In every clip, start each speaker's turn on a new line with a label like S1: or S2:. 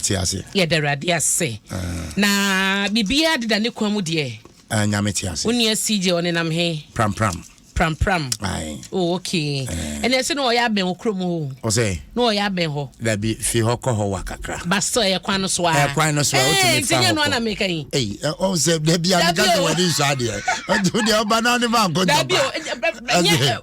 S1: te aseɛ. Yɛda Awurade
S2: ase. Na biribiara deda ne kwan mu deɛ. Ah, Nyame te ase. Wo
S1: nua CJ ɔne nam
S2: he? Pram pram. Pram
S1: pram.
S2: Aye. Oh, okay. Ɛne ɛse na ɔyɛ abɛn wɔ kurom hɔ. Ɔsɛ? Na ɔyɛ
S1: abɛn hɔ.
S2: Dabi, fi hɔ kɔ
S1: hɔ wa kakra. Ba still ɛyɛ kwan no so
S2: a. Ɛyɛ kwan no so a, wotumi fa hɔ kɔ. Ɛɛ,
S1: nti nyɛ no ana meka yi. Ei,
S2: ɔsɛ dabi
S1: a meka sɛ wɔde nhyɛ adeɛ. Ɔde ɔba na ne ba nkɔ ntɔba.
S2: Dabi o, nyɛ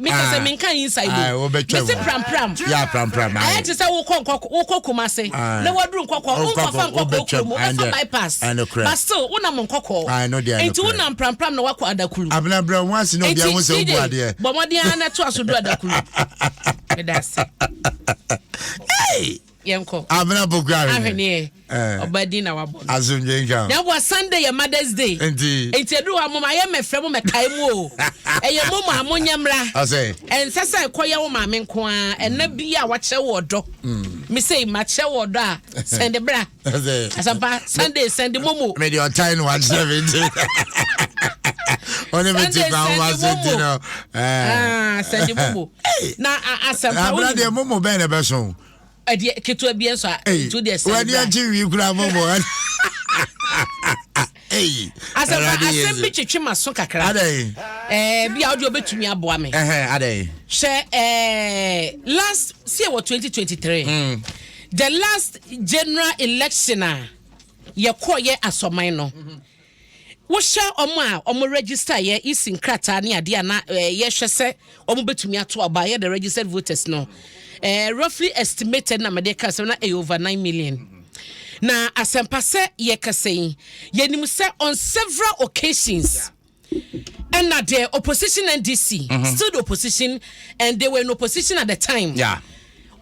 S2: meka sɛ ah. menka inside o ah, mese
S1: prampram yɛ
S2: prampram ayɛ
S1: te sɛ wokɔ
S2: nkɔkɔ wokɔ kuma se ah. na waduru nkɔkɔ wonkɔfa nkɔkɔ kuro mu wofa bypass but still wonam nkɔkɔ nti wonam
S1: prampram na wakɔ
S2: adakuru abinabina wɔn ase na
S1: obi ahun sɛ obu adeɛ bɔmɔden ara na to aso
S2: du adakuru meda ase. yɛnkɔ. Abena Boguare. Ahweneɛ.
S1: Eh.
S2: Ɔba din na wabɔ no. Asomdwe nka. Na ɛboa
S1: Sunday yɛ
S2: Mother's Day. Nti. Nti ɛduru hɔ a mom ayɛ mɛfrɛ mo mɛkae mo o. Ɛyɛ mom a monyɛ mmra. Ɔsɛ. Ɛnsɛ
S1: sɛ ɛkɔyɛ
S2: wo maame nko ara. Ɛna bi a wakyerɛ wo ɔdɔ. Me sei makyerɛ wo ɔdɔ a sɛnde bra. Ɔsɛ. Asɛmpa Sunday sɛnde mom o. Mede ɔtan na wakyerɛ
S1: me nti. Ɔne me ti kwa wo ase nti no. Sɛnde
S2: mom o. Na asɛmpa wo. Abena deɛ mom bɛn
S1: na ɛbɛso. ɛdeɛ ketewa
S2: bi nso a nti wodeɛ sɛ wani agye wii kura
S1: bɔbɔ asɛmpa asɛm bi
S2: twetwe ma so kakra ɛɛ
S1: bi a wode
S2: wobɛtumi aboa me hyɛ
S1: ɛɛ
S2: last sie wɔ 2023 mm. the last general election a yɛkɔɔ yɛ asɔman no mm -hmm. Wohwɛ wɔn a wɔn register yɛ EC nkrataa ne adeɛ a na eh, yɛhwɛ sɛ wɔn bɛtumi ato aba yɛ the registered voters no eh, roughly estimated na mede ka sɛ na ɛyɛ over nine million na asɛmpa sɛ yɛkasa yi yɛnim sɛ on several occasions and that the opposition NDC mm-hmm. still the opposition and they were in opposition at the time. Yeah.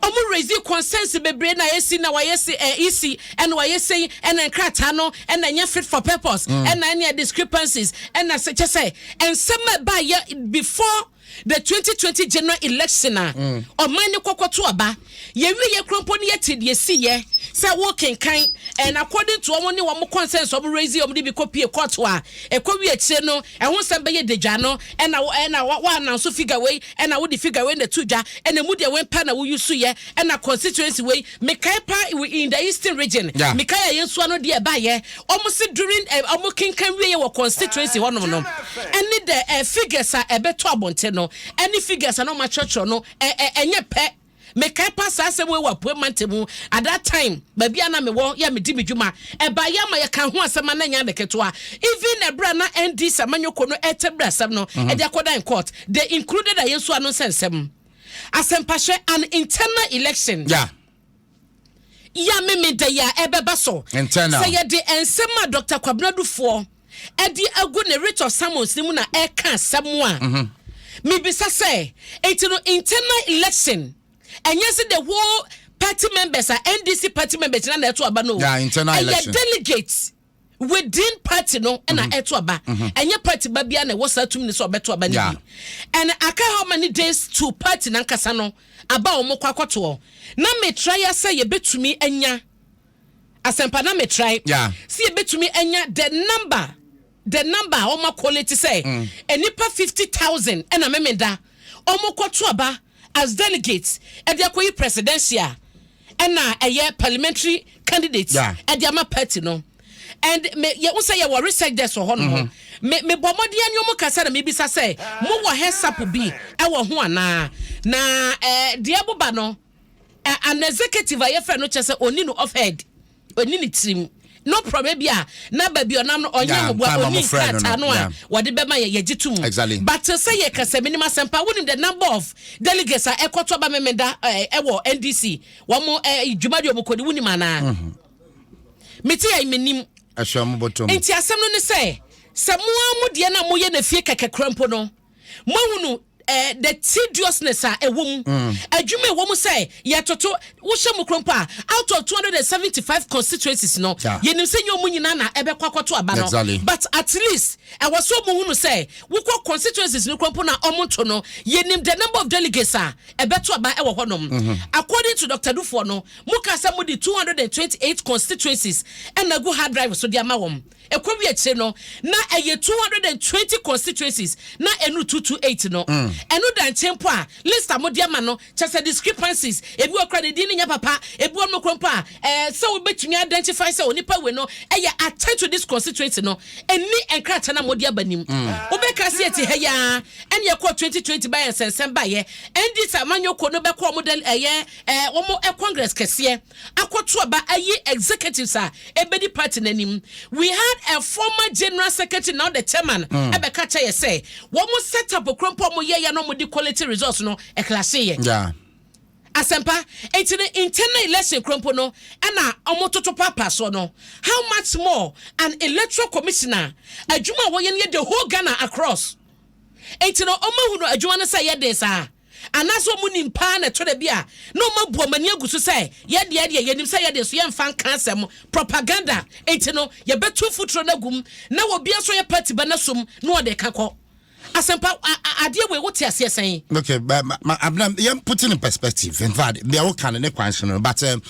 S2: Ɔmo
S1: raise
S2: concerns bebree na ayɛ si na wayɛ se eh, isi ɛna wayɛ sei ɛna nkrataa no ɛna ɛnyɛ fit for purpose mm. ɛna ɛna discrepancies ɛna sɛ kyɛ sɛ nsɛm a ɛba yɛ before the 2020 general election a mm. ɔman ne kɔkɔ to aba yɛwie yɛ kurompo ne yɛte deɛ si yɛ sɛ wo kenkan and according to ɔmo ne ɔmo concerns ɔmo raise ɔmo de bi kɔ pie court a ɛkɔ wie akyire no ɛho nsɛm bɛyɛ dedwa no ɛna ɛna wa ananso figure wei Ɛna wode figure wei na to dwa ɛna emu deɛ wei paa na wo use yɛ ɛna constituency wei mekae paa it in the eastern region yeah. mekae a yɛn so ano deɛ ɛbaayɛ wɔn se during eh, wɔn kenkan wie yɛ wɔ constituency hɔnom no ɛne the eh, figures a ɛbɛtɔ abɔnten no ɛne figures a na wɔn akyerɛkyerɛ no ɛnyɛ pɛ. Mekae paa saa asɛm wei wɔ Apuei Mantam mu. At that time, baabi a na mewɔ yɛ a medi me dwuma, ɛbaeɛ a ma yɛkaa ho asɛm a na ɛnyɛ ade ketewa. Even ɛberɛ a na ND Samanyoko no ɛretɛ biri asɛm no mm-hmm. ɛde akɔda in court, they included Ayensu Anonsah nsɛm. Asɛmpahyɛ, an internal election. Yeah. ya Memeda yi a ɛbɛba so. Sɛ yɛde
S1: nsɛm
S2: a Dr. Kwabena Dufoɔ ɛde agu ne Writ of Summons no mu na ɛka asɛm a mhm. mebisa sɛ nti no internal election ɛnyɛ sɛ the whole party members a NDC party members na na ɛto aba no ɛyɛ
S1: delegates
S2: within party no ɛna mm-hmm. ɛto aba mm-hmm. ɛnyɛ party ba bia na ɛwɔ saa tumi no sɛ ɔbɛto aba no bi ɛna aka how many days to party nankasa no aba a wɔn kɔ akɔtoɔ na metra ya sɛ yɛbɛtumi anya asɛmpa na metra yi sɛ yɛbɛtumi anya the number the number a wɔn akɔle ti sɛ mm. nnipa fifty thousand ɛna memeda wɔn kɔto aba as delegates ɛde akɔyi presidential. ɛna ɛyɛ parliamentary candidate yeah. ɛde ama party no and me yɛ wosɛ yɛ wɔ research desk wɔ hɔ nom mm-hmm. me me bɔ mmɔden ani ɔmo kasa na mebisa sɛ mo wɔ hɛsapo bi ɛwɔ ho anaa na ɛɛ eh, deɛ boba no eh, an executive a yɛfrɛ no kyɛ sɛ oni no off head. ɔni ne tirim no problem bi a na baabi ɔnam no ɔnyɛ ahoboa ɔni nkrataa no a wɔde bɛma yɛ yɛgye to mu but sɛ yɛ kasa minim asɛmpa wonim the number of delegates a ɛkɔtɔ aba memeda eh, ɛwɔ ndc wɔn mo eh, dwuma deɛ wɔn kɔdi wonim anaa mhm. mete yɛ menim
S1: nti asɛm no ne sɛ
S2: sɛ mo a mo deɛ na moyɛ na fie kɛkɛ kura mpo no Moahunu eh, the tediousness a ɛwɔ mu, mm. adwuma ɛwɔ mu sɛ yɛtoto wohyɛ mu koro mpo a out of 275 constituencies no yɛnim sɛ nyɛ ɔmu nyinaa na ɛbɛkɔ akɔto aba no but at least ɛwɔ sɛ ɔmu hunu sɛ wokɔ constituencies no koro mpo na ɔmo nto no yɛnim the number of delegates a ɛbɛto aba ɛwɔ hɔnom mm-hmm. according to Dr. Dufoɔ no mo ka sɛ mo de 228 constituencies ɛna gu hard drive so de ama wɔn Ɛkɔwie akyire no, na ɛyɛ two hundred and twenty constituencies na ɛnuru two two eight no. Ɛno da nkyɛn mpo a, list a mode ama no, kyerɛ sɛ discrepancies, ebi wɔ hɔ koraa a ne din no nyɛ papa, ebi wɔ hɔnom koraa mpo a ɛɛ sɛ wobɛtumi a identify sɛ onipa wei no yɛ attached to this constituency no nni nkrataa no a mode aba no mu. Wobɛka sɛ yɛte ha yi ara ɛne ɛkɔɔ twenty twenty baeɛ nsɛnsɛm baeɛ. Ɛnde sɛ amanyɔkuo no bɛkɔ wɔn dɛl ɛyɛ ɛɛ wɔn congress kɛseɛ, akɔto aba ayi executives a ebedi party no anim. We had a former general secretary now the chairman ɛbɛka kyɛ yɛ sɛ wɔn set up koro mpo wɔn yɛ yɛ na wɔn di quality results no ɛklase yɛ. Yeah.
S1: Asɛmpa
S2: eti no internal election koro mpo no ɛna wɔn toto paapaa soɔ no how much more an electoral commissioner adwuma a wɔyɛ no yɛ the whole Ghana across eti no wɔn ahu no adwuma no sɛ ɛyɛ den saa. Anaasɛ wɔn nim paa na ɛtɔ da bi a na wɔn abu wɔn ani agu so sɛ yɛn deɛ deɛ yɛnim sɛ yɛde nso yɛmfa nka asɛm, propaganda, nti no yɛbɛtu mfuturo no agum na wɔ bia nso yɛ party ba na sum na wɔde ka kɔ. Asɛmpa a adeɛ wei wote aseɛ sɛn? Okay, but ma, ma,
S1: abena, yeah, put in perspective. In fact, they are kind of questioning, but um,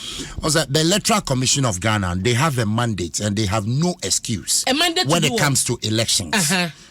S1: also the Electoral Commission of Ghana, they have a mandate and they have no excuse a mandate when it comes to elections. Uh-huh.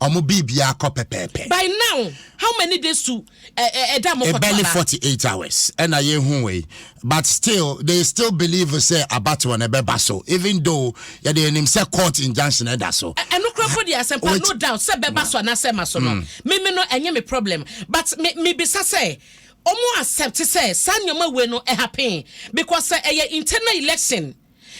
S1: Ɔmo biribiara kɔ pɛpɛɛpɛ. By now how
S2: many days to ɛda mo kɔtɔ anaa. Barely
S1: forty eight hours ɛna yɛ hu wei but still they still believe sɛ abatoɔ no ɛbɛba so even though yɛde yɛ nim sɛ court injunction ɛda so. Ɛno kura mpo deɛ asɛmpa
S2: no doubt sɛ bɛba so anaa sɛ ɛma so no me me no ɛnyɛ me problem but me me bisa sɛ ɔmo accept sɛ saa nneɛma wei no ɛhappen because sɛ ɛyɛ internal election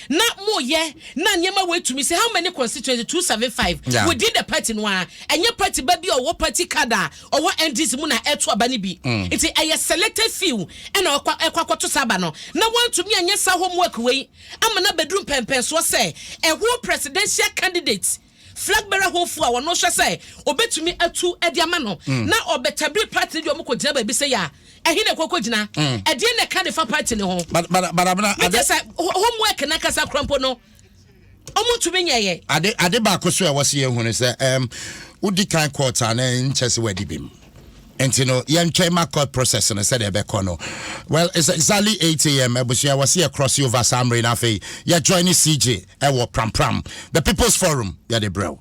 S2: na mo yɛ na nneɛma wei tumi sɛ how many constituency two seven five yeah. within the party no ara ɛnyɛ party ba bi a ɔwɔ party card a ɔwɔ ndc mu na ɛto aba no bi mm. nti ɛyɛ selected few ɛna ɛkɔ ɛkɔ akɔto saa aba no na wɔntumi anyɛ saa homework wei ama na bɛduru mpɛmpɛnsoɔ sɛ ɛho presidential candidate flag bearer hɔfoɔ a wɔno hwɛ sɛ ɔbɛtumi atu de ama no mm. na ɔbɛtabiri party no deɛ ɔmo kɔgyina baabi sɛ yɛ a ɛhe na ɛkɔkɔ gyina mm. ɛdeɛ na ɛka de fa party no ho mete
S1: sɛ
S2: homework no ankasa kora mpo no ɔmo ntumi nyɛyɛ ade ade baako so a
S1: ɛwɔ sɛ yɛhunu sɛ wodi kan court a na nkyɛ sɛ wadi bi mu nti no yɛntwɛn ma court process no sɛdeɛ ɛbɛkɔ no well it's exactly 8 am abusua wɔ se yɛ cross over saa mmere no afei yɛjoin ne cj ɛwɔ prampram the people's forum yɛde brɛ wo.